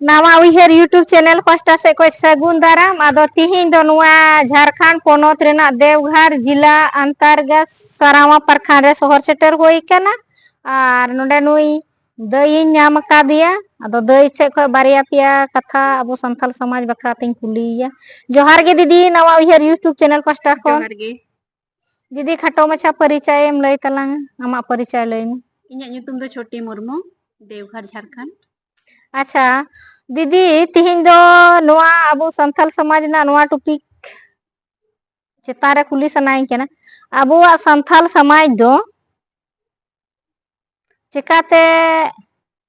ᱱᱟᱣᱟ ᱩᱭᱦᱟᱹᱨ YouTube channel ᱯᱟᱥᱴᱟ ᱥᱮᱫ ᱠᱷᱚᱱ ᱥᱟᱹᱜᱩᱱ ᱫᱟᱨᱟᱢ ᱟᱫᱚ ᱛᱤᱦᱤᱧ ᱫᱚ ᱱᱚᱣᱟ ᱡᱷᱟᱨᱠᱷᱟᱸᱰ ᱯᱚᱱᱚᱛ ᱨᱮᱱᱟᱜ ᱫᱮᱣᱜᱷᱟᱨ ᱡᱮᱞᱟ ᱟᱱᱛᱟᱨᱜᱟᱥ ᱥᱟᱨᱟᱣᱟ ᱯᱟᱨᱠᱷᱟᱱ ᱨᱮ ᱥᱚᱦᱚᱨ ᱥᱮᱴᱮᱨ ᱦᱩᱭ ᱟᱠᱟᱱᱟ ᱟᱨ ᱱᱚᱰᱮ ᱱᱩᱭ ᱫᱟᱹᱭᱤᱧ ᱧᱟᱢ ᱟᱠᱟᱫᱮᱭᱟ ᱟᱫᱚ ᱫᱟᱹᱭ ᱥᱮᱫ ᱠᱷᱚᱱ ᱵᱟᱨᱭᱟ ᱯᱮᱭᱟ ᱠᱟᱛᱷᱟ ᱟᱵᱚ ᱥᱟᱱᱛᱟᱲ ᱥᱚᱢᱟᱡᱽ ᱵᱟᱠᱷᱨᱟ ᱛᱤᱧ ᱠᱩᱞᱤᱭᱮᱭᱟ ᱡᱚᱦᱟᱨ ᱜᱮ ᱫᱤᱫᱤ ᱱᱟᱣᱟ ᱩᱭᱦᱟᱹᱨ ᱭᱩᱴᱩᱵᱽ ᱪᱮᱱᱮᱞ ᱯᱟᱥᱴᱟ ᱠᱷᱚᱱ ᱡᱚᱦᱟᱨ ᱜᱮ ᱡᱩᱫᱤ ᱠᱷᱟᱴᱚ ᱢᱟᱪᱷᱟ ᱯᱟᱹᱨᱤᱪᱟᱭ ᱮᱢ ᱞᱟᱹᱭ ᱛᱟᱞᱟᱝ ᱟᱢᱟᱜ ᱯᱟᱹᱨᱤᱪᱟᱭ ᱞᱟᱹᱭ ᱢᱮ ᱤᱧᱟᱹᱜ ᱧᱩᱛᱩᱢ ᱫᱚ ᱪᱷᱚᱴᱤ ᱢᱩᱨᱢᱩ ᱫᱮᱣᱜᱷᱚᱨ ᱡᱷᱟᱲᱠᱷᱚᱸᱰ ᱟᱪᱪᱷᱟ ᱫᱤᱫᱤ ᱛᱤᱦᱤᱧ ᱫᱚ ᱱᱚᱣᱟ ᱟᱵᱚ ᱥᱟᱱᱛᱟᱲ ᱥᱚᱢᱟᱡᱽ ᱨᱮᱱᱟᱜ ᱱᱚᱣᱟ ᱴᱚᱯᱤᱠ ᱪᱮᱛᱟᱱ ᱨᱮ ᱠᱩᱞᱤ ᱥᱟᱱᱟᱭᱤᱧ ᱠᱟᱱᱟ ᱟᱵᱚᱣᱟᱜ ᱥᱟᱱᱛᱟᱲ ᱥᱚᱢᱟᱡᱽ ᱫᱚ ᱪᱮᱠᱟᱛᱮ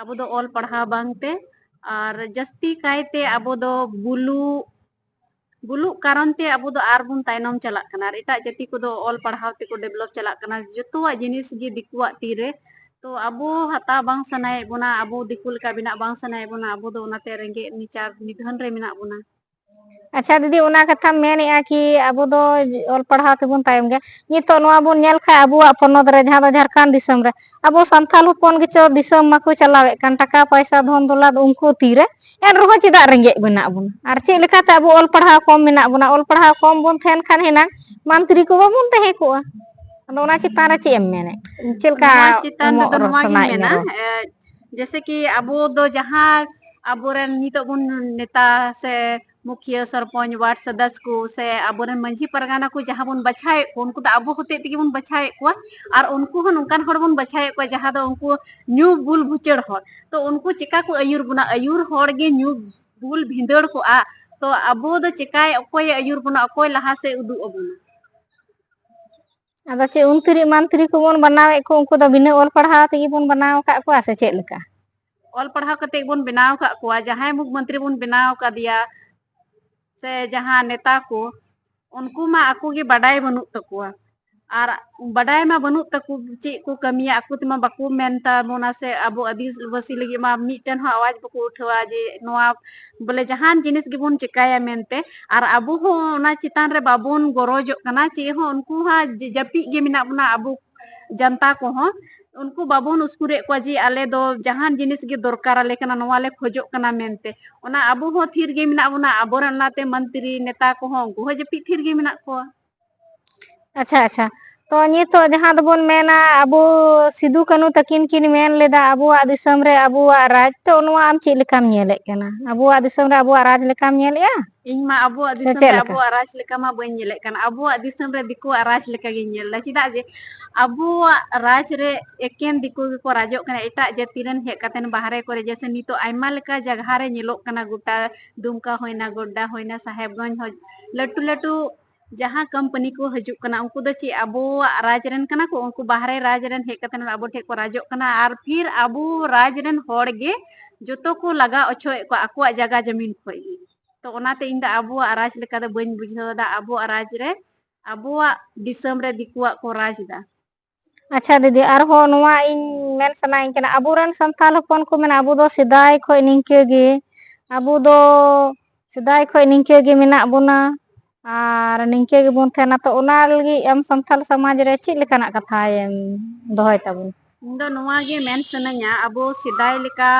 ᱟᱵᱚ ᱫᱚ ᱚᱞ ᱯᱟᱲᱦᱟᱣ ᱵᱟᱝᱛᱮ ᱟᱨ ᱡᱟᱹᱥᱛᱤ ᱠᱟᱭᱛᱮ ᱟᱵᱚ ᱫᱚ ᱵᱩᱞᱩᱜ ᱵᱩᱞᱩᱜ ᱠᱟᱨᱚᱱ ᱛᱮ ᱟᱵᱚ ᱫᱚ ᱟᱨᱵᱚᱱ ᱛᱟᱭᱱᱚᱢ ᱪᱟᱞᱟᱜ ᱠᱟᱱᱟ ᱟᱨ ᱮᱴᱟᱜ ᱡᱟᱹᱛᱤ ᱠᱚᱫᱚ ᱚᱞ ᱯᱟᱲᱦᱟᱣ ᱛᱮᱠᱚ ᱰᱮᱵᱷᱞᱚᱯ ᱪᱟᱞᱟᱜ ᱠᱟᱱᱟ ᱡᱚᱛᱚᱣᱟᱜ ᱡᱤᱱᱤᱥ ᱜᱮ ᱫᱤᱠᱩᱣᱟᱜ ᱛᱤᱨᱮ ᱛᱚ ᱟᱵᱚ ᱦᱟᱛᱟᱣ ᱵᱟᱝ ᱥᱟᱱᱟᱭᱮᱫ ᱵᱚᱱᱟ ᱟᱵᱚ ᱫᱤᱠᱩ ᱞᱮᱠᱟ ᱵᱮᱱᱟᱜ ᱵᱟᱝ ᱥᱟᱱᱟᱭᱮᱫ ᱵᱚᱱᱟ ᱟᱵᱚ ᱫᱚ ᱚᱱᱟᱛᱮ ᱨᱮᱸᱜᱮᱡ ᱱᱤᱪᱟᱨ ᱱᱤᱫᱷᱟᱹᱱ ᱨᱮ ᱢᱮᱱᱟᱜ ᱵᱚᱱᱟ ᱟᱪᱪᱷᱟ ᱫᱤᱫᱤ ᱚᱱᱟ ᱠᱟᱛᱷᱟᱢ ᱢᱮᱱᱮᱜᱼᱟ ᱠᱤ ᱟᱵᱚ ᱫᱚ ᱚᱞ ᱯᱟᱲᱦᱟᱣ ᱛᱮᱵᱚᱱ ᱛᱟᱭᱚᱢ ᱜᱮᱭᱟ ᱱᱤᱛᱚᱜ ᱱᱚᱣᱟ ᱵᱚᱱ ᱧᱮᱞ ᱠᱷᱟᱱ ᱟᱵᱚᱣᱟᱜ ᱯᱚᱱᱚᱛ ᱨᱮ ᱡᱟᱦᱟᱸ ᱫᱚ ᱡᱷᱟᱲᱠᱷᱚᱸᱱᱰ ᱫᱤᱥᱚᱢ ᱨᱮ ᱟᱵᱚ ᱥᱟᱱᱛᱟᱲ ᱦᱚᱯᱚᱱ ᱜᱮᱪᱚ ᱫᱤᱥᱚᱢ ᱢᱟᱠᱚ ᱪᱟᱞᱟᱣᱮᱫ ᱠᱟᱱ ᱴᱟᱠᱟ ᱯᱚᱭᱥᱟ ᱫᱷᱚᱱ ᱫᱞᱟᱛ ᱩᱱᱠᱩ ᱛᱤᱨᱮ ᱮᱱ ᱨᱮᱦᱚᱸ ᱪᱮᱫᱟᱜ ᱨᱮᱸᱜᱮᱡ ᱢᱮᱱᱟᱜ ᱵᱚᱱᱟ ᱟᱨ ᱪᱮᱫ ᱞᱮᱠᱟ ᱛᱮ ᱟᱵᱚ ᱚᱞ ᱯᱟᱲᱦᱟᱣ ᱠᱚᱢ ᱢᱮᱱᱟᱜ ᱵᱚᱱᱟ ᱚᱞ ᱯᱟᱲᱦᱟᱣ ᱠᱚᱢ ᱵᱚᱱ ᱛᱟᱦᱮᱱ ᱠᱷᱟᱱ ᱦᱮᱱᱟᱝ ᱢᱟᱱᱛᱨᱤ ᱠᱚ ᱵᱟᱵᱚᱱ ᱛᱟᱦᱮᱸ ᱠᱚᱜᱼᱟ ᱟᱫᱚ ᱚᱱᱟ ᱪᱮᱛᱟᱱ ᱨᱮ ᱪᱮᱫ ᱮᱢ ᱢᱮᱱᱮᱫ ᱪᱮᱫ ᱞᱮᱠᱟ ᱱᱚᱣᱟ ᱪᱮᱛᱟᱱ ᱮᱢᱚᱜ ᱨᱮᱫᱚ ᱨᱚᱲ ᱱᱚᱣᱟᱜᱤᱧ ᱥᱟᱱᱟᱭᱮᱫ ᱢᱮᱭᱟ ᱢᱮᱱᱟ ᱨᱚᱲ ᱡᱮᱥᱮ ᱠᱤ ᱟᱵᱚ ᱫᱚ ᱡᱟᱦᱟᱸ ᱟᱵᱚᱨᱮᱱ ᱱᱤᱛᱚᱜ ᱵᱚᱱ ᱱᱮᱛᱟ ᱥᱮ ᱢᱩᱠᱷᱤᱭᱟᱹ ᱥᱚᱨᱯᱚᱧᱪ ᱣᱟᱨᱰ ᱥᱚᱫᱚᱥ ᱠᱚ ᱥᱮ ᱟᱵᱚᱨᱮᱱ ᱢᱟᱺᱡᱷᱤ ᱯᱟᱨᱜᱟᱱᱟ ᱠᱚ ᱡᱟᱦᱟᱸ ᱵᱚᱱ ᱵᱟᱪᱷᱟᱣᱮᱫ ᱠᱚ ᱩᱱᱠᱩ ᱫᱚ ᱟᱵᱚ ᱦᱚᱛᱮᱡ ᱛᱮᱜᱮ ᱵᱚᱱ ᱵᱟᱪᱷᱟᱣᱮᱫ ᱠᱚᱣᱟ ᱟᱨ ᱩᱱᱠᱩ ᱦᱚᱸ ᱱᱚᱝᱠᱟᱱ ᱦᱚᱲ ᱵᱚᱱ ᱵᱟᱪᱷᱟᱣᱮᱫ ᱠᱚᱣᱟ ᱡᱟᱦᱟᱸ ᱫᱚ ᱩᱱᱠᱩ ᱧᱩ ᱵᱩᱞ ᱵᱷᱩᱪᱟᱹᱲ ᱦᱚᱲ ᱛᱚ ᱩᱱᱠᱩ ᱪᱮᱠᱟ ᱠᱚ ᱟᱹᱭᱩᱨ ᱵᱚᱱᱟ ᱟᱹᱭᱩᱨ ᱦᱚᱲ ᱜᱮ ᱧᱩ ᱵᱩᱞ ᱵᱷᱤᱸᱫᱟᱹᱲ ᱠᱚᱜᱼᱟ ᱛᱚ ᱟᱵᱚ ᱫᱚ ᱪᱮᱠᱟᱭ ᱚᱠᱚᱭᱮ ᱟᱹᱭᱩᱨ ᱵᱚᱱᱟ ᱚᱠᱚᱭ ᱞᱟᱦᱟ ᱥᱮᱫ ᱩᱫᱩᱜ ᱟᱵᱚᱱᱟ ᱟᱫᱚ ᱪᱮᱫ ᱚᱱᱛᱨᱤ ᱢᱟᱱᱛᱨᱤ ᱠᱚᱵᱚᱱ ᱵᱮᱱᱟᱣᱮᱫ ᱠᱚ ᱩᱱᱠᱩ ᱫᱚ ᱵᱤᱱᱟᱹ ᱚᱞ ᱯᱟᱲᱦᱟᱣ ᱛᱮᱜᱮ ᱵᱚᱱ ᱵᱮᱱᱟᱣ ᱟᱠᱟᱫ ᱠᱚᱣᱟ ᱥᱮ ᱪᱮᱫ ᱞᱮᱠᱟ? ᱚᱞ ᱯᱟᱲᱦᱟᱣ ᱠᱟᱛᱮᱫ ᱵᱚᱱ ᱵᱮᱱᱟᱣ ᱟᱠᱟᱫ ᱠᱚᱣᱟ ᱡᱟᱦᱟᱸᱭ ᱢᱩᱠᱷ ᱢᱚᱱᱛᱨᱤ ᱵᱚᱱ ᱵᱮᱱᱟᱣ ᱟᱠᱟᱫᱮᱭᱟ ᱥᱮ ᱡᱟᱦᱟᱸ ᱱᱮᱛᱟ ᱠᱚ ᱩᱱᱠᱩ ᱢᱟ ᱟᱠᱚ ᱜᱮ ᱵᱟᱰᱟᱭ ᱵᱟᱹᱱᱩᱜ ᱛᱟᱠᱚᱣᱟ ᱟᱨ ᱵᱟᱰᱟᱭ ᱢᱟ ᱵᱟᱹᱱᱩᱜ ᱛᱟᱠᱚ ᱪᱮᱫ ᱠᱚ ᱠᱟᱹᱢᱤᱭᱟ ᱟᱠᱚ ᱛᱮᱢᱟ ᱵᱟᱠᱚ ᱢᱮᱱ ᱛᱟᱵᱚᱱᱟ ᱥᱮ ᱟᱵᱚ ᱟᱹᱫᱤᱵᱟᱹᱥᱤ ᱞᱟᱹᱜᱤᱫ ᱢᱟ ᱢᱤᱫᱴᱮᱱ ᱦᱚᱸ ᱟᱣᱟᱡᱽ ᱵᱟᱠᱚ ᱩᱴᱷᱟᱹᱣᱟ ᱡᱮ ᱱᱚᱣᱟ ᱵᱚᱞᱮ ᱡᱟᱦᱟᱱ ᱡᱤᱱᱤᱥ ᱜᱮᱵᱚᱱ ᱪᱮᱠᱟᱭᱟ ᱢᱮᱱᱛᱮ ᱟᱨ ᱟᱵᱚ ᱦᱚᱸ ᱚᱱᱟ ᱪᱮᱛᱟᱱ ᱨᱮ ᱵᱟᱵᱚᱱ ᱜᱚᱨᱚᱡᱚᱜ ᱠᱟᱱᱟ ᱪᱮᱫ ᱦᱚᱸ ᱩᱱᱠᱩ ᱦᱚᱸ ᱡᱟᱹᱯᱤᱫ ᱜᱮ ᱢᱮᱱᱟᱜ ᱵᱚᱱᱟ ᱟᱵᱚ ᱡᱟᱱᱛᱟ ᱠᱚᱦᱚᱸ ᱩᱱᱠᱩ ᱵᱟᱵᱚᱱ ᱩᱥᱠᱩᱨᱮᱫ ᱠᱚᱣᱟ ᱡᱮ ᱟᱞᱮ ᱫᱚ ᱡᱟᱦᱟᱱ ᱡᱤᱱᱤᱥ ᱜᱮ ᱫᱚᱨᱠᱟᱨ ᱟᱞᱮ ᱠᱟᱱᱟ ᱱᱚᱣᱟ ᱞᱮ ᱠᱷᱚᱡᱚᱜ ᱠᱟᱱᱟ ᱢᱮᱱᱛᱮ ᱚᱱᱟ ᱟᱵᱚ ᱦᱚᱸ ᱛᱷᱤᱨ ᱜᱮ ᱢᱮᱱᱟᱜ ᱵᱚᱱᱟ ᱟᱵᱚᱨᱮᱱ ᱚᱱᱟᱛᱮ ᱢᱚᱱᱛᱨᱤ ᱱᱮᱛᱟ ᱠᱚᱦᱚᱸ ᱩᱱᱠᱩ ᱦᱚᱸ ᱡᱟᱹᱯᱤᱫ ᱛᱷᱤᱨ ᱜᱮ ᱢᱮᱱᱟᱜ ᱠᱚᱣᱟ ᱟᱪᱪᱷᱟ ᱟᱪᱪᱷᱟ ᱛᱚ ᱱᱤᱛᱚᱜ ᱡᱟᱦᱟᱸ ᱫᱚᱵᱚᱱ ᱢᱮᱱᱟ ᱟᱵᱚ ᱥᱤᱫᱩ ᱠᱟᱹᱱᱩ ᱛᱟᱹᱠᱤᱱ ᱠᱤᱱ ᱢᱮᱱ ᱞᱮᱫᱟ ᱟᱵᱚᱣᱟᱜ ᱫᱤᱥᱚᱢ ᱨᱮ ᱟᱵᱚᱣᱟᱜ ᱨᱟᱡᱽ ᱛᱚ ᱱᱚᱣᱟ ᱟᱢ ᱪᱮᱫ ᱞᱮᱠᱟᱢ ᱧᱮᱞᱮᱫ ᱠᱟᱱᱟ ᱟᱵᱚᱣᱟᱜ ᱫᱤᱥᱚᱢ ᱨᱮ ᱟᱵᱚᱣᱟᱜ ᱨᱟᱡᱽ ᱞᱮᱠᱟᱢ ᱧᱮᱞᱮᱜᱼᱟ ᱤᱧ ᱢᱟ ᱟᱵᱚᱣᱟᱜ ᱥᱮ ᱫᱤᱥᱚᱢ ᱪᱮᱫ ᱨᱮ ᱞᱮᱠᱟ ᱟᱵᱚᱣᱟᱜ ᱨᱟᱡᱽ ᱞᱮᱠᱟ ᱢᱟ ᱵᱟᱹᱧ ᱧᱮᱞᱮᱫ ᱠᱟᱱ ᱟᱵᱚᱣᱟᱜ ᱫᱤᱥᱚᱢ ᱨᱮ ᱫᱤᱠᱩᱣᱟᱜ ᱨᱟᱡᱽ ᱞᱮᱠᱟ ᱜᱤᱧ ᱧᱮᱞ ᱮᱫᱟ ᱪᱮᱫᱟᱜ ᱡᱮ ᱟᱵᱚᱣᱟᱜ ᱨᱟᱡᱽ ᱨᱮ ᱮᱠᱮᱱ ᱫᱤᱠᱩ ᱜᱮᱠᱚ ᱨᱟᱡᱚᱜ ᱠᱟᱱᱟ ᱮᱴᱟᱜ ᱡᱟᱹᱛᱤ ᱨᱮᱱ ᱦᱮᱡ ᱠᱟᱛᱮᱱ ᱵᱟᱦᱨᱮ ᱠᱚᱨᱮ ᱡᱮᱭᱥᱮ ᱱᱤᱛᱚᱜ ᱟᱭᱢᱟ ᱞᱮᱠᱟ ᱡᱟᱭᱜᱟ ᱨᱮ ᱧᱮᱞᱚᱜ ᱠᱟᱱᱟ ᱜᱚᱴᱟ ᱫᱩᱢᱠᱟ ᱦᱩᱭᱱᱟ ᱜᱳᱰᱰᱟ ᱦᱩᱭᱱᱟ ᱥᱟᱦᱮᱵᱽᱜᱚᱸᱡᱽ ᱦᱚᱸ ᱞᱟᱹᱴᱩ ᱞᱟᱹᱴᱩ ᱡᱟᱦᱟᱸ ᱠᱳᱢᱯᱟᱱᱤ ᱠᱚ ᱦᱤᱡᱩᱜ ᱠᱟᱱᱟ ᱩᱱᱠᱩ ᱫᱚ ᱪᱮᱫ ᱟᱵᱚᱣᱟᱜ ᱨᱟᱡᱽ ᱨᱮᱱ ᱠᱟᱱᱟ ᱠᱚ ᱩᱱᱠᱩ ᱵᱟᱦᱨᱮ ᱨᱟᱡᱽ ᱨᱮᱱ ᱦᱮᱡ ᱠᱟᱛᱮ ᱟᱵᱚ ᱴᱷᱮᱱ ᱠᱚ ᱨᱟᱡᱚᱜ ᱠᱟᱱᱟ ᱟᱨ ᱯᱷᱤᱨ ᱟᱵᱚ ᱨᱟᱡᱽ ᱨᱮᱱ ᱦᱚᱲ ᱜᱮ ᱡᱚᱛᱚ ᱠᱚ ᱞᱟᱜᱟ ᱚᱪᱚᱭᱮᱫ ᱠᱚᱣᱟ ᱟᱠᱚᱣᱟᱜ ᱡᱟᱭᱜᱟ ᱡᱟᱹᱢᱤᱱ ᱠᱷᱚᱱ ᱜᱮ ᱛᱚ ᱚᱱᱟᱛᱮ ᱤᱧ ᱫᱚ ᱟᱵᱚᱣᱟᱜ ᱨᱟᱡᱽ ᱞᱮᱠᱟ ᱫᱚ ᱵᱟᱹᱧ ᱵᱩᱡᱷᱟᱹᱣ ᱮᱫᱟ ᱟᱵᱚᱣᱟᱜ ᱨᱟᱡᱽ ᱨᱮ ᱟᱵᱚᱣᱟᱜ ᱫᱤᱥᱚᱢ ᱨᱮ ᱫᱤᱠᱩᱣᱟᱜ ᱠᱚ ᱨᱟᱡᱽ ᱮᱫᱟ ᱟᱪᱪᱷᱟ ᱫᱤᱫᱤ ᱟᱨᱦᱚᱸ ᱱᱚᱣᱟ ᱤᱧ ᱢᱮᱱ ᱥᱟᱱᱟᱭᱤᱧ ᱠᱟᱱᱟ ᱟᱵᱚᱨᱮᱱ ᱥᱟᱱᱛᱟᱲ ᱦᱚᱯᱚᱱ ᱠᱚ ᱢᱮᱱᱟ ᱟᱵᱚ ᱫᱚ ᱥᱮᱫᱟᱭ ᱠᱷᱚᱱ ᱱᱤᱝᱠᱟᱹ ᱜᱮ ᱟᱵᱚ ᱫᱚ ᱥᱮᱫᱟᱭ ᱠᱷᱚᱱ ᱱᱤᱝᱠᱟᱹ ᱜᱮ ᱢᱮᱱᱟᱜ ᱵᱚᱱᱟ ᱟᱨ ᱱᱤᱝᱠᱟᱹ ᱜᱮᱵᱚᱱ ᱛᱟᱦᱮᱱᱟ ᱛᱚ ᱚᱱᱟ ᱞᱟᱹᱜᱤᱫ ᱟᱢ ᱥᱟᱱᱛᱟᱞ ᱥᱚᱢᱟᱡᱽ ᱨᱮ ᱪᱮᱫ ᱞᱮᱠᱟᱱᱟᱜ ᱠᱟᱛᱷᱟ ᱦᱟᱭᱮᱢ ᱫᱚᱦᱚᱭ ᱛᱟᱵᱚᱱ ᱤᱧ ᱫᱚ ᱱᱚᱣᱟ ᱜᱮ ᱢᱮᱱ ᱥᱟᱱᱟᱧᱟ ᱟᱵᱚ ᱥᱮᱫᱟᱭ ᱞᱮᱠᱟ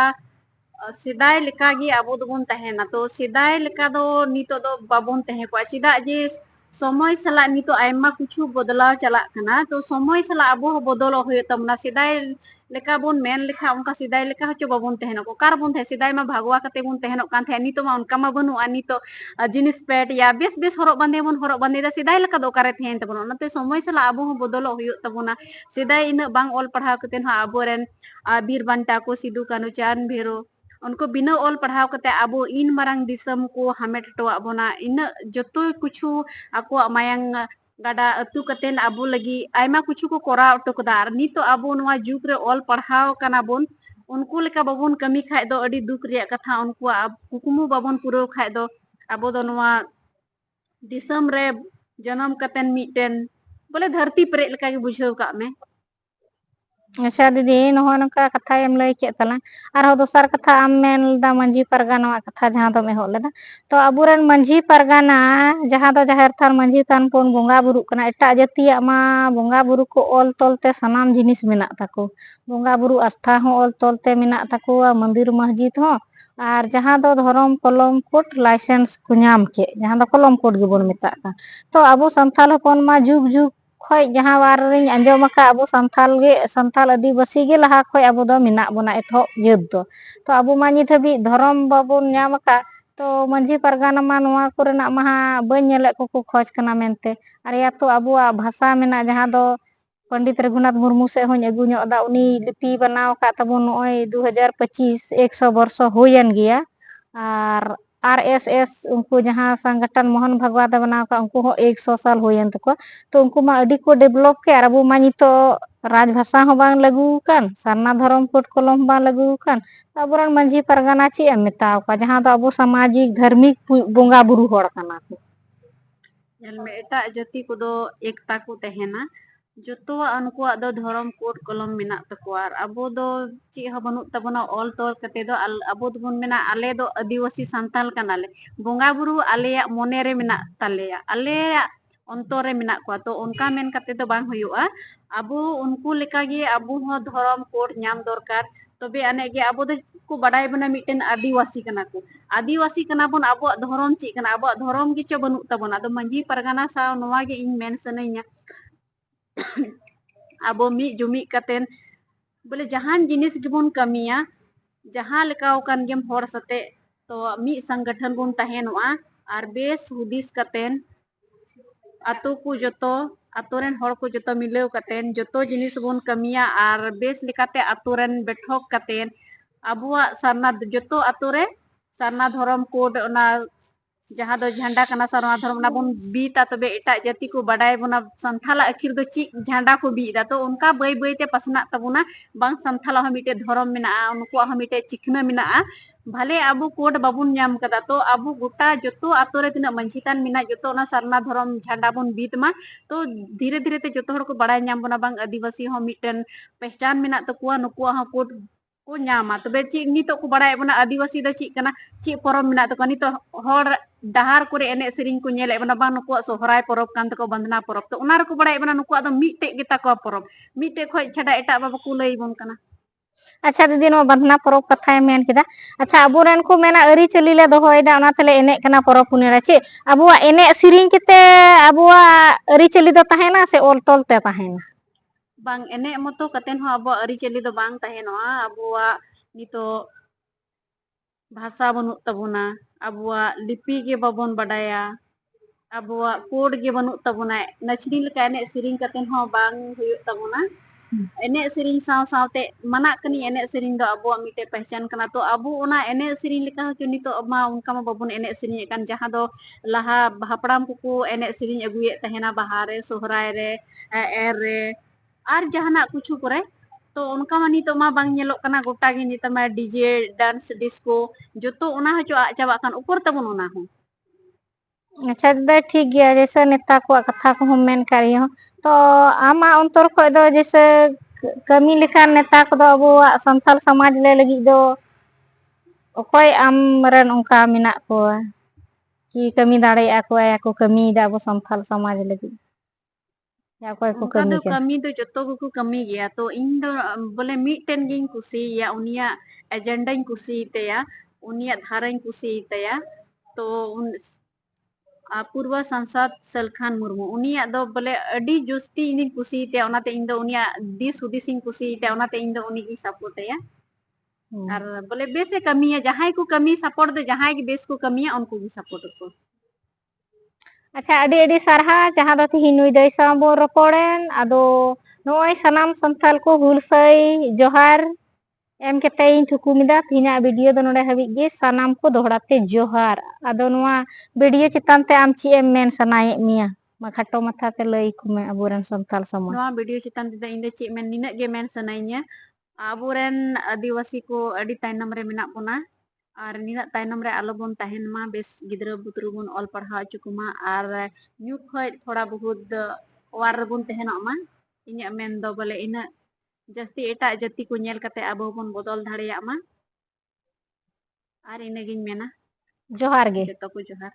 ᱥᱮᱫᱟᱭ ᱞᱮᱠᱟ ᱜᱮ ᱟᱵᱚ ᱫᱚᱵᱚᱱ ᱛᱟᱦᱮᱱᱟ ᱛᱚ ᱥᱮᱫᱟᱭ ᱞᱮᱠᱟ ᱫᱚ ᱱᱤᱛᱚᱜ ᱫᱚ ᱵᱟᱵᱚᱱ ᱛᱟᱦᱮᱸ ᱠᱚᱜᱼᱟ ᱪᱮᱫᱟᱜ ᱡᱮ ᱥᱚᱢᱚᱭ ᱥᱟᱞᱟᱜ ᱱᱤᱛᱚᱜ ᱟᱭᱢᱟ ᱠᱤᱪᱷᱩ ᱵᱚᱫᱽᱞᱟᱣ ᱪᱟᱞᱟᱜ ᱠᱟᱱᱟ ᱛᱚ ᱥᱚᱢᱚᱭ ᱥᱟᱞᱟᱜ ᱟᱵᱚ ᱦᱚᱸ ᱵᱚᱫᱚᱞᱚᱜ ᱦᱩᱭᱩᱜ ᱛᱟᱵᱚᱱᱟ ᱥᱮᱫᱟᱭ ᱞᱮᱠᱟ ᱵᱚᱱ ᱢᱮᱱ ᱞᱮᱠᱷᱟᱡ ᱚᱱᱠᱟ ᱥᱮᱫᱟᱭ ᱞᱮᱠᱟ ᱦᱚᱪᱚ ᱵᱟᱵᱚᱱ ᱛᱟᱦᱮᱱᱟ ᱚᱠᱟ ᱨᱮᱵᱚᱱ ᱛᱟᱦᱮᱸᱱᱟ ᱥᱮᱫᱟᱭ ᱢᱟ ᱵᱷᱟᱜᱽᱣᱟ ᱠᱟᱛᱮ ᱵᱚᱱ ᱛᱟᱦᱮᱱᱚᱜ ᱠᱟᱱ ᱛᱟᱦᱮᱸᱫ ᱱᱤᱛᱚᱜ ᱢᱟ ᱚᱱᱠᱟ ᱢᱟ ᱵᱟᱹᱱᱩᱜᱼᱟ ᱱᱤᱛᱚᱜ ᱡᱤᱱᱤᱥ ᱯᱮᱴ ᱭᱟ ᱵᱮᱥ ᱵᱮᱥ ᱦᱚᱨᱚᱜ ᱵᱟᱸᱫᱮ ᱵᱚᱱ ᱦᱚᱨᱚᱜ ᱵᱟᱸᱫᱮᱭᱮᱫᱟ ᱥᱮᱫᱟᱭ ᱞᱮᱠᱟ ᱫᱚ ᱚᱠᱟᱨᱮ ᱛᱟᱦᱮᱸᱭᱮᱱ ᱛᱟᱵᱚᱱᱟ ᱚᱱᱟᱛᱮ ᱥᱚᱢᱚᱭ ᱥᱟᱞᱟᱜ ᱟᱵᱚ ᱦᱚᱸ ᱵᱚᱫᱚᱞᱚᱜ ᱦᱩᱭᱩᱜ ᱛᱟᱵᱚᱱᱟ ᱥᱮᱫᱟᱭ ᱤᱱᱟᱹᱜ ᱵᱟᱝ ᱚᱞ ᱯᱟᱲᱦᱟᱣ ᱠᱟᱛᱮ ᱦᱚᱸ ᱟᱵᱚᱨᱮᱱ ᱟᱨ ᱵᱤᱨ ᱵᱟᱱᱴᱟ ᱠᱚ ᱥᱤᱫᱩ ᱠᱟᱹᱱᱩ ᱪᱟᱸᱫᱽ ᱵᱷᱮᱨᱳ ᱩᱱᱠᱩ ᱵᱤᱱᱟᱹ ᱚᱞ ᱯᱟᱲᱦᱟᱣ ᱠᱟᱛᱮ ᱟᱵᱚ ᱤᱱ ᱢᱟᱨᱟᱝ ᱫᱤᱥᱚᱢ ᱠᱚ ᱦᱟᱢᱮᱴ ᱦᱚᱴᱚᱣᱟᱜ ᱵᱚᱱᱟ ᱤᱱᱟᱹᱜ ᱡᱚᱛᱚ ᱠᱤᱪᱷᱩ ᱟᱠᱚᱣᱟᱜ ᱢᱟᱭᱟᱝ ᱜᱟᱰᱟ ᱟᱹᱛᱩ ᱠᱟᱛᱮ ᱟᱵᱚ ᱞᱟᱹᱜᱤᱫ ᱟᱭᱢᱟ ᱠᱤᱪᱷᱩ ᱠᱚ ᱠᱚᱨᱟᱣ ᱦᱚᱴᱚ ᱠᱟᱫᱟ ᱟᱨ ᱱᱤᱛᱚᱜ ᱟᱵᱚ ᱱᱚᱣᱟ ᱡᱩᱜᱽ ᱨᱮ ᱚᱞ ᱯᱟᱲᱦᱟᱣ ᱠᱟᱱᱟ ᱵᱚᱱ ᱩᱱᱠᱩ ᱞᱮᱠᱟ ᱵᱟᱵᱚᱱ ᱠᱟᱹᱢᱤ ᱠᱷᱟᱡ ᱫᱚ ᱟᱹᱰᱤ ᱫᱩᱠ ᱨᱮᱭᱟᱜ ᱠᱟᱛᱷᱟ ᱩᱱᱠᱩᱣᱟᱜ ᱠᱩᱠᱢᱩ ᱵᱟᱵᱚᱱ ᱯᱩᱨᱟᱹᱣ ᱠᱷᱟᱡ ᱫᱚ ᱟᱵᱚ ᱫᱚ ᱱᱚᱣᱟ ᱫᱤᱥᱚᱢ ᱨᱮ ᱡᱚᱱᱚᱢ ᱠᱟᱛᱮ ᱢᱤᱫᱴᱮᱱ ᱵᱚᱞᱮ ᱫᱷᱟᱹᱨᱛᱤ ᱯᱮᱨᱮᱡ ᱞᱮᱠᱟᱜᱮ ᱵᱩᱡᱷᱟᱹᱣ ᱠᱟᱜ ᱢᱮ ᱟᱪᱪᱷᱟ ᱫᱤᱫᱤ ᱱᱚᱜᱼᱚᱭ ᱱᱚᱝᱠᱟ ᱠᱟᱛᱷᱟ ᱜᱮᱢ ᱞᱟᱹᱭ ᱠᱮᱫ ᱛᱟᱞᱟᱝ ᱟᱨᱦᱚᱸ ᱫᱚᱥᱟᱨ ᱠᱟᱛᱷᱟ ᱟᱢ ᱢᱮᱱ ᱞᱮᱫᱟ ᱢᱟᱺᱡᱷᱤ ᱯᱟᱨᱜᱟᱱᱟᱣᱟᱜ ᱠᱟᱛᱷᱟ ᱡᱟᱦᱟᱸ ᱫᱚᱢ ᱮᱦᱚᱵ ᱞᱮᱫᱟ ᱛᱚ ᱟᱵᱚᱨᱮᱱ ᱢᱟᱺᱡᱷᱤ ᱯᱟᱨᱜᱟᱱᱟ ᱡᱟᱦᱟᱸ ᱫᱚ ᱡᱟᱦᱮᱨ ᱛᱷᱟᱱ ᱢᱟᱺᱡᱷᱤ ᱛᱷᱟᱱ ᱵᱚᱱ ᱵᱚᱸᱜᱟ ᱵᱩᱨᱩᱜ ᱠᱟᱱᱟ ᱮᱴᱟᱜ ᱡᱟᱹᱛᱤᱭᱟᱜ ᱢᱟ ᱵᱚᱸᱜᱟ ᱵᱩᱨᱩ ᱠᱚ ᱚᱞ ᱛᱚᱞ ᱛᱮ ᱥᱟᱱᱟᱢ ᱡᱤᱱᱤᱥ ᱢᱮᱱᱟᱜ ᱛᱟᱠᱚ ᱵᱚᱸᱜᱟ ᱵᱩᱨᱩ ᱟᱥᱛᱷᱟ ᱦᱚᱸ ᱚᱞ ᱛᱚᱞ ᱛᱮ ᱢᱮᱱᱟᱜ ᱛᱟᱠᱚᱣᱟ ᱢᱚᱱᱫᱤᱨ ᱢᱚᱥᱡᱤᱫᱽ ᱦᱚᱸ ᱟᱨ ᱡᱟᱦᱟᱸ ᱫᱚ ᱫᱷᱚᱨᱚᱢ ᱠᱚᱞᱚᱢ ᱠᱳᱰ ᱞᱟᱭᱥᱮᱱᱥ ᱠᱚ ᱧᱟᱢ ᱠᱮᱫ ᱡᱟᱦᱟᱸ ᱫᱚ ᱠᱚᱞᱚᱢ ᱠᱳᱰ ᱜᱮᱵᱚᱱ ᱢᱮᱛᱟᱜ ᱠᱟᱱ ᱛᱚ ᱟᱵᱚ ᱥᱟᱱᱛᱟᱞ ᱦᱚᱯᱚᱱ ᱢᱟ ᱡᱩᱜᱽ ᱡᱩᱜᱽ ᱠᱷᱚᱡ ᱡᱟᱦᱟᱸ ᱵᱟᱨ ᱨᱤᱧ ᱟᱸᱡᱚᱢ ᱟᱠᱟᱫ ᱟᱵᱚ ᱥᱟᱱᱛᱟᱞ ᱜᱮ ᱥᱟᱱᱛᱟᱞ ᱟᱹᱫᱤᱵᱟᱹᱥᱤ ᱜᱮ ᱞᱟᱦᱟ ᱠᱷᱚᱡ ᱟᱵᱚ ᱫᱚ ᱢᱮᱱᱟᱜ ᱵᱚᱱᱟ ᱮᱛᱚᱦᱚᱵ ᱡᱟᱹᱛ ᱫᱚ ᱛᱚ ᱟᱵᱚ ᱢᱟ ᱱᱤᱛ ᱦᱟᱹᱵᱤᱡ ᱫᱷᱚᱨᱚᱢ ᱵᱟᱵᱚᱱ ᱧᱟᱢ ᱟᱠᱟᱫ ᱛᱚ ᱢᱟᱺᱡᱷᱤ ᱯᱟᱨᱜᱟᱱᱟ ᱢᱟ ᱱᱚᱣᱟ ᱠᱚᱨᱮᱱᱟᱜ ᱢᱟ ᱦᱟᱸᱜ ᱵᱟᱹᱧ ᱧᱮᱞᱮᱫ ᱠᱚᱠᱚ ᱠᱷᱚᱡᱽ ᱠᱟᱱᱟ ᱢᱮᱱᱛᱮ ᱟᱨ ᱭᱟᱛᱚ ᱟᱵᱚᱣᱟᱜ ᱵᱷᱟᱥᱟ ᱢᱮᱱᱟᱜ ᱡᱟᱦᱟᱸ ᱫᱚ ᱯᱚᱱᱰᱤᱛ ᱨᱟᱹᱜᱷᱩᱱᱟᱛᱷ ᱢᱩᱨᱢᱩ ᱥᱮᱫ ᱦᱚᱧ ᱟᱹᱜᱩ ᱧᱚᱜ ᱮᱫᱟ ᱩᱱᱤ ᱞᱤᱯᱤ ᱵᱮᱱᱟᱣ ᱟᱠᱟᱫ ᱛᱟᱵᱚᱱ ᱱᱚᱜᱼᱚᱭ ᱫᱩ ᱦᱟᱡᱟᱨ ᱯᱚᱸᱪᱤᱥ ᱮᱠᱥᱚ ᱵᱚᱨᱥᱚ ᱦᱩᱭᱮᱱ ᱜᱮᱭᱟ ᱟᱨ ᱟᱨ ᱮᱥ ᱮᱥ ᱩᱱᱠᱩ ᱡᱟᱦᱟᱸ ᱥᱚᱝᱜᱚᱴᱷᱚᱱ ᱢᱳᱦᱚᱱ ᱵᱷᱟᱜᱽᱣᱟᱛ ᱮ ᱵᱮᱱᱟᱣ ᱠᱟᱜ ᱩᱱᱠᱩ ᱦᱚᱸ ᱮᱠ ᱥᱚ ᱥᱟᱞ ᱦᱩᱭᱮᱱ ᱛᱟᱠᱚᱣᱟ ᱛᱚ ᱩᱱᱠᱩ ᱢᱟ ᱟᱹᱰᱤ ᱠᱚ ᱰᱮᱵᱷᱞᱚᱯ ᱠᱮᱫ ᱟᱨ ᱟᱵᱚ ᱢᱟ ᱱᱤᱛᱚᱜ ᱨᱟᱡᱽ ᱵᱷᱟᱥᱟ ᱦᱚᱸ ᱵᱟᱝ ᱞᱟᱹᱜᱩ ᱟᱠᱟᱱ ᱥᱟᱨᱱᱟ ᱫᱷᱚᱨᱚᱢ ᱠᱳᱰ ᱠᱚᱞᱚᱢ ᱦᱚᱸ ᱵᱟᱝ ᱞᱟᱹᱜᱩ ᱟᱠᱟᱱ ᱟᱵᱚᱨᱮᱱ ᱢᱟᱺᱡᱷᱤ ᱯᱟᱨᱜᱟᱱᱟ ᱪᱮᱫ ᱮᱢ ᱢᱮᱛᱟᱣ ᱠᱚᱣᱟ ᱡᱟᱦᱟᱸ ᱫᱚ ᱟᱵᱚ ᱥᱟᱢᱟᱡᱤᱠ ᱫᱷᱟᱹᱨᱢᱤᱠ ᱵᱚᱸᱜᱟ ᱵᱩᱨᱩ ᱦᱚᱲ ᱠᱟᱱᱟ ᱠᱚ ᱧᱮᱞ ᱢᱮ ᱮᱴᱟᱜ ᱡᱟᱹᱛᱤ ᱠᱚᱫᱚ ᱮᱠᱛᱟ ᱠᱚ ᱛᱟᱦᱮᱱᱟ ᱡᱚᱛᱚᱣᱟᱜ ᱩᱱᱠᱩᱣᱟᱜ ᱫᱚ ᱫᱷᱚᱨᱚᱢ ᱠᱳᱰ ᱠᱚᱞᱚᱢ ᱢᱮᱱᱟᱜ ᱛᱟᱠᱚᱣᱟ ᱟᱨ ᱟᱵᱚ ᱫᱚ ᱪᱮᱫ ᱦᱚᱸ ᱵᱟᱹᱱᱩᱜ ᱛᱟᱵᱚᱱᱟ ᱚᱞ ᱛᱚᱞ ᱠᱟᱛᱮ ᱫᱚ ᱟᱵᱚ ᱫᱚᱵᱚᱱ ᱢᱮᱱᱟ ᱟᱞᱮ ᱫᱚ ᱟᱹᱫᱤᱵᱟᱹᱥᱤ ᱥᱟᱱᱛᱟᱞ ᱠᱟᱱᱟᱞᱮ ᱵᱚᱸᱜᱟ ᱵᱩᱨᱩ ᱟᱞᱮᱭᱟᱜ ᱢᱚᱱᱮᱨᱮ ᱢᱮᱱᱟᱜ ᱛᱟᱞᱮᱭᱟ ᱟᱞᱮᱭᱟᱜ ᱚᱱᱛᱚᱨ ᱨᱮ ᱢᱮᱱᱟᱜ ᱠᱚᱣᱟ ᱛᱚ ᱚᱱᱠᱟ ᱢᱮᱱ ᱠᱟᱛᱮ ᱫᱚ ᱵᱟᱝ ᱦᱩᱭᱩᱜᱼᱟ ᱟᱵᱚ ᱩᱱᱠᱩ ᱞᱮᱠᱟᱜᱮ ᱟᱵᱚ ᱦᱚᱸ ᱫᱷᱚᱨᱚᱢ ᱠᱳᱰ ᱧᱟᱢ ᱫᱚᱨᱠᱟᱨ ᱛᱚᱵᱮ ᱟᱹᱱᱤᱡ ᱜᱮ ᱟᱵᱚ ᱫᱚ ᱠᱚ ᱵᱟᱰᱟᱭ ᱵᱚᱱᱟ ᱢᱤᱫᱴᱮᱱ ᱟᱹᱫᱤᱵᱟᱹᱥᱤ ᱠᱟᱱᱟ ᱠᱚ ᱟᱹᱫᱤᱵᱟᱹᱥᱤ ᱠᱟᱱᱟ ᱵᱚᱱ ᱟᱵᱚᱣᱟᱜ ᱫᱷᱚᱨᱚᱢ ᱪᱮᱫ ᱠᱟᱱᱟ ᱟᱵᱚᱣᱟᱜ ᱫᱷᱚᱨᱚᱢ ᱜᱮᱪᱚ ᱵᱟᱹᱱᱩᱜ ᱛᱟᱵᱚᱱᱟ ᱟᱫᱚ ᱢᱟᱺᱡᱷᱤ ᱯᱟᱨᱜᱟᱱᱟ ᱥᱟᱶ ᱱᱚᱣᱟ ᱜᱮ ᱤᱧ ᱢᱮᱱ ᱥᱟᱱᱟᱧᱟ ᱟᱵᱚ ᱢᱤᱫ ᱡᱩᱢᱤᱫ ᱠᱟᱛᱮᱱ ᱵᱚᱞᱮ ᱡᱟᱦᱟᱱ ᱡᱤᱱᱤᱥ ᱜᱮᱵᱚᱱ ᱠᱟᱹᱢᱤᱭᱟ ᱡᱟᱦᱟᱸ ᱞᱮᱠᱟ ᱟᱠᱟᱱ ᱜᱮᱢ ᱦᱚᱲ ᱥᱟᱛᱮ ᱛᱚ ᱢᱤᱫ ᱥᱚᱝᱜᱚᱴᱷᱚᱱ ᱵᱚᱱ ᱛᱟᱦᱮᱱᱚᱜᱼᱟ ᱟᱨ ᱵᱮᱥ ᱦᱩᱫᱤᱥ ᱠᱟᱛᱮᱱ ᱟᱛᱳ ᱠᱚ ᱡᱚᱛᱚ ᱟᱛᱳ ᱨᱮᱱ ᱦᱚᱲ ᱠᱚ ᱡᱚᱛᱚ ᱢᱤᱞᱟᱹᱣ ᱠᱟᱛᱮᱱ ᱡᱚᱛᱚ ᱡᱤᱱᱤᱥ ᱵᱚᱱ ᱠᱟᱹᱢᱤᱭᱟ ᱟᱨ ᱵᱮᱥ ᱞᱮᱠᱟᱛᱮ ᱟᱛᱳ ᱨᱮᱱ ᱵᱮᱴᱷᱚᱠ ᱠᱟᱛᱮᱱ ᱟᱵᱚᱣᱟᱜ ᱥᱟᱨᱱᱟ ᱡᱚᱛᱚ ᱟᱛᱳ ᱨᱮ ᱥᱟᱨᱱᱟ ᱫᱷᱚᱨᱚᱢ ᱠᱳᱰ ᱚᱱᱟ ᱡᱟᱦᱟᱸ ᱫᱚ ᱡᱷᱟᱱᱰᱟ ᱠᱟᱱᱟ ᱥᱟᱨᱣᱟ ᱫᱷᱚᱨᱚᱢ ᱚᱱᱟ ᱵᱚᱱ ᱵᱤᱫᱟ ᱛᱚᱵᱮ ᱮᱴᱟᱜ ᱡᱟᱹᱛᱤ ᱠᱚ ᱵᱟᱰᱟᱭ ᱵᱚᱱᱟ ᱥᱟᱱᱛᱷᱟᱞᱟᱜ ᱟᱹᱠᱷᱤᱨ ᱫᱚ ᱪᱮᱫ ᱡᱷᱟᱱᱰᱟ ᱠᱚ ᱵᱤᱫ ᱮᱫᱟ ᱛᱚ ᱚᱱᱠᱟ ᱵᱟᱹᱭ ᱵᱟᱹᱭᱛᱮ ᱯᱟᱥᱱᱟᱜ ᱛᱟᱵᱚᱱᱟ ᱵᱟᱝ ᱥᱟᱱᱛᱷᱟᱞᱟᱜ ᱦᱚᱸ ᱢᱤᱫᱴᱮᱡ ᱫᱷᱚᱨᱚᱢ ᱢᱮᱱᱟᱜᱼᱟ ᱩᱱᱠᱩᱣᱟᱜ ᱦᱚᱸ ᱢᱤᱫᱴᱮᱡ ᱪᱤᱠᱷᱱᱟᱹ ᱢᱮᱱᱟᱜᱼᱟ ᱵᱷᱟᱞᱮ ᱟᱵᱚ ᱠᱳᱰ ᱵᱟᱵᱚᱱ ᱧᱟᱢ ᱠᱟᱫᱟ ᱛᱚ ᱟᱵᱚ ᱜᱚᱴᱟ ᱡᱚᱛᱚ ᱟᱛᱳ ᱨᱮ ᱛᱤᱱᱟᱹᱜ ᱢᱟᱺᱡᱷᱤ ᱛᱷᱟᱱ ᱢᱮᱱᱟᱜ ᱡᱚᱛᱚ ᱚᱱᱟ ᱥᱟᱨᱱᱟ ᱫᱷᱚᱨᱚᱢ ᱡᱷᱟᱱᱰᱟ ᱵᱚᱱ ᱵᱤᱫ ᱢᱟ ᱛᱚ ᱫᱷᱤᱨᱮ ᱫᱷᱤᱨᱮ ᱛᱮ ᱡᱚᱛᱚ ᱦᱚᱲ ᱠᱚ ᱵᱟᱲᱟᱭ ᱧᱟᱢ ᱵᱚᱱᱟ ᱵᱟᱝ ᱟᱹᱫᱤᱵᱟᱹᱥᱤ ᱦᱚᱸ ᱢᱤᱫᱴᱮᱱ ᱯᱮᱦᱪᱟᱱ ᱢᱮᱱᱟᱜ ᱛᱟᱠᱚᱣᱟ ᱱᱩᱠᱩᱣᱟᱜ ᱦᱚᱸ ᱠᱳᱰ ᱠᱚ ᱧᱟᱢᱟ ᱛᱚᱵᱮ ᱪᱮᱫ ᱱᱤᱛᱚᱜ ᱠᱚ ᱵᱟᱲᱟᱭᱮᱫ ᱵᱚᱱᱟ ᱟᱹᱫᱤᱵᱟᱹᱥᱤ ᱫᱚ ᱪᱮᱫ ᱠᱟᱱᱟ ᱪᱮᱫ ᱯᱚᱨᱚᱵᱽ ᱢᱮᱱᱟᱜ ᱛᱟᱠᱚᱣᱟ ᱱᱤᱛᱚᱜ ᱦᱚᱲ ᱰᱟᱦᱟᱨ ᱠᱚᱨᱮ ᱮᱱᱮᱡ ᱥᱮᱨᱮᱧ ᱠᱚ ᱧᱮᱞᱮᱫ ᱵᱚᱱᱟ ᱵᱟᱝ ᱱᱩᱠᱩᱣᱟᱜ ᱥᱚᱦᱨᱟᱭ ᱯᱚᱨᱚᱵᱽ ᱠᱟᱱ ᱛᱟᱠᱚᱣᱟ ᱵᱟᱸᱫᱽᱱᱟ ᱯᱚᱨᱚᱵᱽ ᱛᱚ ᱚᱱᱟ ᱨᱮᱠᱚ ᱵᱟᱲᱟᱭᱮᱫ ᱵᱚᱱᱟ ᱱᱩᱠᱩᱣᱟᱜ ᱫᱚ ᱢᱤᱫᱴᱮᱡ ᱜᱮᱛᱟ ᱠᱚᱣᱟ ᱯᱚᱨᱚᱵᱽ ᱢᱤᱫᱴᱮᱡ ᱠᱷᱚᱡ ᱪᱷᱟᱰᱟ ᱮᱴᱟᱜ ᱵᱟᱠᱚ ᱞᱟᱹᱭ ᱵᱚᱱ ᱠᱟᱱᱟ ᱟᱪᱪᱷᱟ ᱫᱤᱫᱤ ᱱᱚᱣᱟ ᱵᱟᱸᱫᱽᱱᱟ ᱯᱚᱨᱚᱵᱽ ᱠᱟᱛᱷᱟᱭ ᱢᱮᱱ ᱠᱮᱫᱟ ᱟᱪᱪᱷᱟ ᱟᱵᱚᱨᱮᱱ ᱠᱚ ᱢᱮᱱᱟ ᱟᱹᱨᱤᱪᱟᱹᱞᱤ ᱞᱮ ᱫᱚᱦᱚᱭᱮᱫᱟ ᱚᱱᱟ ᱛᱮᱞᱮ ᱮᱱᱮᱡ ᱠᱟᱱᱟ ᱯᱚᱨᱚᱵᱽ ᱯᱩᱱᱟᱹᱭ ᱨᱮ ᱪᱮᱫ ᱟᱵᱚᱣᱟᱜ ᱮᱱᱮᱡ ᱥᱮᱨᱮᱧ ᱠᱟᱛᱮ ᱟᱵᱚᱣᱟᱜ ᱟᱹᱨᱤᱪᱟᱹᱞᱤ ᱫᱚ ᱛᱟᱦᱮᱱᱟ ᱥᱮ ᱚᱞ ᱛᱚᱞ ᱛᱮ ᱛᱟᱦᱮᱱᱟ ᱵᱟᱝ ᱮᱱᱮᱡ ᱢᱚᱛᱚ ᱠᱟᱛᱮ ᱦᱚᱸ ᱟᱵᱚᱣᱟᱜ ᱟᱹᱨᱤᱪᱟᱹᱞᱤ ᱫᱚ ᱵᱟᱝ ᱛᱟᱦᱮᱱᱚᱜᱼᱟ ᱟᱵᱚᱣᱟᱜ ᱱᱤᱛᱚᱜ ᱵᱷᱟᱥᱟ ᱵᱟᱹᱱᱩᱜ ᱛᱟᱵᱚᱱᱟ ᱟᱵᱚᱣᱟᱜ ᱞᱤᱯᱤ ᱜᱮ ᱵᱟᱵᱚᱱ ᱵᱟᱰᱟᱭᱟ ᱟᱵᱚᱣᱟᱜ ᱠᱳᱰ ᱜᱮ ᱵᱟᱹᱱᱩᱜ ᱛᱟᱵᱚᱱᱟ ᱱᱟᱹᱪᱱᱤ ᱞᱮᱠᱟ ᱮᱱᱮᱡ ᱥᱮᱨᱮᱧ ᱠᱟᱛᱮᱫ ᱦᱚᱸ ᱵᱟᱝ ᱦᱩᱭᱩᱜ ᱛᱟᱵᱚᱱᱟ ᱮᱱᱮᱡ ᱥᱮᱨᱮᱧ ᱥᱟᱶ ᱥᱟᱶᱛᱮ ᱢᱟᱱᱟᱜ ᱠᱟᱹᱱᱟᱹᱧ ᱮᱱᱮᱡ ᱥᱮᱨᱮᱧ ᱫᱚ ᱟᱵᱚᱣᱟᱜ ᱢᱤᱫᱴᱮᱡ ᱯᱮᱦᱪᱟᱱ ᱠᱟᱱᱟ ᱛᱚ ᱟᱵᱚ ᱚᱱᱟ ᱮᱱᱮᱡ ᱥᱮᱨᱮᱧ ᱞᱮᱠᱟ ᱦᱚᱸ ᱱᱤᱛᱚᱜ ᱢᱟ ᱚᱱᱠᱟ ᱢᱟ ᱵᱟᱵᱚᱱ ᱮᱱᱮᱡ ᱥᱮᱨᱮᱧᱮᱫ ᱠᱟᱱ ᱡᱟᱦᱟᱸ ᱫᱚ ᱞᱟᱦᱟ ᱦᱟᱯᱲᱟᱢ ᱠᱚᱠᱚ ᱮᱱᱮᱡ ᱥᱮᱨᱮᱧ ᱟᱹᱜᱩᱭᱮᱫ ᱛᱟᱦᱮᱱᱟ ᱵᱟᱦᱟ ᱨᱮ ᱥᱚᱦᱨᱟᱭ ᱨᱮ ᱮᱨ ᱨᱮ ᱟᱨ ᱡᱟᱦᱟᱱᱟᱜ ᱠᱤᱪᱷᱩ ᱠᱚᱨᱮ ᱛᱚ ᱚᱱᱠᱟ ᱢᱟ ᱱᱤᱛᱚᱜ ᱢᱟ ᱵᱟᱝ ᱧᱮᱞᱚᱜ ᱠᱟᱱᱟ ᱜᱚᱴᱟ ᱜᱮ ᱱᱤᱛᱚᱜ ᱢᱟ ᱰᱤᱡᱮ ᱰᱟᱱᱥ ᱰᱤᱥᱠᱳ ᱡᱚᱛᱚ ᱚᱱᱟ ᱦᱚᱪᱚ ᱟᱜ ᱪᱟᱵᱟᱜ ᱠᱟᱱ ᱩᱠᱩᱨ ᱛᱟᱵᱚᱱ ᱚᱱᱟ ᱦᱚᱸ ᱟᱪᱪᱷᱟ ᱫᱟᱫᱟ ᱴᱷᱤᱠ ᱜᱮᱭᱟ ᱡᱮᱭᱥᱮ ᱱᱮᱛᱟ ᱠᱚᱣᱟᱜ ᱠᱟᱛᱷᱟ ᱠᱚᱦᱚᱸ ᱢᱮᱱ ᱠᱟᱜ ᱤᱭᱟᱹ ᱦᱚᱸ ᱛᱚ ᱟᱢᱟᱜ ᱚᱱᱛᱚᱨ ᱠᱷᱚᱡ ᱫᱚ ᱡᱮᱭᱥᱮ ᱠᱟᱹᱢᱤ ᱞᱮᱠᱟᱱ ᱱᱮᱛᱟ ᱠᱚᱫᱚ ᱟᱵᱚᱣᱟᱜ ᱥᱟᱱᱛᱟᱞ ᱥᱚᱢᱟᱡᱽ ᱞᱮ ᱞᱟᱹᱜᱤᱫ ᱫᱚ ᱚᱠᱚᱭ ᱟᱢ ᱨᱮᱱ ᱚᱱᱠᱟ ᱢᱮᱱᱟᱜ ᱠᱚᱣᱟ ᱠᱤ ᱠᱟᱹᱢᱤ ᱫᱟᱲᱮᱭᱟᱜᱼᱟ ᱠᱚ ᱟᱭᱟ ᱠᱚ ᱠᱟᱹᱢᱤᱭᱮᱫᱟ ᱟᱵᱚ ᱥᱟᱱᱛᱟᱞ ᱥᱚᱢᱟᱡᱽ ᱞᱟᱹᱜᱤᱫ ᱚᱠᱚᱭ ᱠᱚ ᱚᱱᱠᱟ ᱫᱚ ᱠᱟᱱᱟ ᱠᱟᱹᱢᱤ ᱫᱚ ᱡᱚᱛ ᱡᱚᱛᱚ ᱜᱮᱠᱚ ᱠᱟᱹᱢᱤ ᱜᱮᱭᱟ ᱛᱚ ᱤᱧ ᱫᱚ ᱵᱚᱞᱮ ᱢᱤᱫᱴᱮᱱ ᱜᱤᱧ ᱠᱩᱥᱤᱭᱟᱭᱟ ᱩᱱᱤᱭᱟᱜ ᱮᱡᱮᱱᱰᱟᱧ ᱠᱩᱥᱤᱭᱟᱛᱟᱭᱟ ᱩᱱᱤᱭᱟᱜ ᱫᱷᱟᱨᱟᱧ ᱠᱩᱥᱤᱭᱟᱛᱟᱭᱟ ᱛᱚ ᱟᱨ ᱯᱩᱨᱵᱟ ᱥᱟᱝᱥᱟᱫᱽ ᱥᱟᱹᱞᱠᱷᱟᱱ ᱢᱩᱨᱢᱩ ᱩᱱᱤᱭᱟᱜ ᱫᱚ ᱵᱚᱞᱮ ᱟᱹᱰᱤ ᱡᱩᱥ ᱛᱤ ᱤᱧ ᱫᱩᱧ ᱠᱩᱥᱤᱭᱟᱛᱟᱭᱟ ᱚᱱᱟᱛᱮ ᱤᱧ ᱫᱚ ᱩᱱᱤᱭᱟᱜ ᱫᱤᱥ ᱦᱩᱫᱤᱥ ᱤᱧ ᱠᱩᱥᱤᱭᱟᱛᱟᱭᱟ ᱚᱱᱟᱛᱮ ᱤᱧ ᱫᱚ ᱩᱱᱤᱜᱤᱧ ᱥᱟᱯᱳᱨᱴ ᱟᱭᱟ ᱦᱩᱸ ᱟᱨ ᱵᱚᱞᱮ ᱵᱮᱥᱮ ᱠᱟᱹᱢᱤᱭᱟ ᱡᱟᱦᱟᱸᱭ ᱠᱚ ᱠᱟᱹᱢᱤ ᱥᱟᱯᱚᱴ ᱫᱚ ᱡᱟᱦᱟᱸᱭ ᱜᱮ ᱵᱮᱥ ᱠᱚ ᱠᱟᱹᱢᱤᱭᱟ ᱩᱱᱠᱩ ᱜᱮ ᱥᱟᱯᱚᱴ ᱟᱠᱚ ᱟᱪᱪᱷᱟ ᱟᱹᱰᱤ ᱟᱹᱰᱤ ᱥᱟᱨᱦᱟᱣ ᱡᱟᱦᱟᱸ ᱫᱚ ᱛᱤᱦᱤᱧ ᱱᱩᱭ ᱫᱟᱹᱭ ᱥᱟᱶ ᱵᱚᱱ ᱨᱚᱯᱚᱲᱮᱱ ᱟᱫᱚ ᱱᱚᱜᱼᱚᱭ ᱥᱟᱱᱟᱢ ᱥᱟᱱᱛᱟᱞ ᱠᱚ ᱦᱩᱞ ᱥᱟᱹᱭ ᱡᱚᱦᱟᱨ ᱮᱢ ᱠᱟᱛᱮ ᱤᱧ ᱛᱷᱩᱠᱩᱢ ᱮᱫᱟ ᱛᱮᱦᱤᱧᱟᱜ ᱵᱷᱤᱰᱤᱭᱳ ᱫᱚ ᱱᱚᱰᱮ ᱦᱟᱹᱵᱤᱡ ᱜᱮ ᱥᱟᱱᱟᱢ ᱠᱚ ᱫᱚᱦᱲᱟ ᱛᱮ ᱡᱚᱦᱟᱨ ᱟᱫᱚ ᱱᱚᱣᱟ ᱵᱷᱤᱰᱤᱭᱳ ᱪᱮᱛᱟᱱ ᱛᱮ ᱟᱢ ᱪᱮᱫ ᱮᱢ ᱢᱮᱱ ᱥᱟᱱᱟᱭᱮᱫ ᱢᱮᱭᱟ ᱢᱟ ᱠᱷᱟᱴᱚ ᱢᱟᱛᱷᱟ ᱛᱮ ᱞᱟᱹᱭ ᱟᱠᱚ ᱢᱮ ᱟᱵᱚᱨᱮᱱ ᱥᱟᱱᱛᱟᱞ ᱥᱚᱢᱟᱡᱽ ᱱᱚᱣᱟ ᱵᱷᱤᱰᱤᱭᱳ ᱪᱮᱛᱟᱱ ᱛᱮᱫᱚ ᱤᱧ ᱫᱚ ᱪᱮᱫ ᱢᱮᱱ ᱱᱤᱱᱟᱹᱜ ᱜᱮ ᱢᱮᱱ ᱥᱟᱱᱟᱭᱤᱧᱟ ᱟᱵᱚᱨᱮᱱ ᱟᱹᱫᱤᱵᱟᱹᱥᱤ ᱠᱚ ᱟᱹᱰᱤ ᱛᱟᱭᱱᱚᱢ ᱨᱮ ᱢᱮᱱᱟᱜ ᱵᱚᱱᱟ ᱟᱨ ᱱᱤᱱᱟᱹᱜ ᱛᱟᱭᱱᱚᱢ ᱨᱮ ᱟᱞᱚ ᱵᱚᱱ ᱛᱟᱦᱮᱱ ᱢᱟ ᱵᱮᱥ ᱜᱤᱫᱽᱨᱟᱹ ᱵᱩᱛᱨᱩ ᱵᱚᱱ ᱚᱞ ᱯᱟᱲᱦᱟᱣ ᱦᱚᱪᱚ ᱠᱚᱢᱟ ᱟᱨ ᱧᱩ ᱠᱷᱚᱡ ᱛᱷᱚᱲᱟ ᱵᱚᱦᱩᱛ ᱚᱣᱟᱨ ᱨᱮᱵᱚᱱ ᱛᱟᱦᱮᱱᱚᱜ ᱢᱟ ᱤᱧᱟᱹᱜ ᱢᱮᱱ ᱫᱚ ᱵᱚᱞᱮ ᱤᱱᱟᱹᱜ ᱡᱟᱹᱥᱛᱤ ᱮᱴᱟᱜ ᱡᱟᱹᱛᱤ ᱠᱚ ᱧᱮᱞ ᱠᱟᱛᱮ ᱟᱵᱚ ᱦᱚᱸᱵᱚᱱ ᱵᱚᱫᱚᱞ ᱫᱟᱲᱮᱭᱟᱜ ᱢᱟ ᱟᱨ ᱤᱱᱟᱹᱜᱤᱧ ᱢᱮᱱᱟ ᱡᱚᱦᱟᱨ ᱜᱮ ᱡᱚᱛᱚ ᱠᱚ ᱡᱚᱦᱟᱨ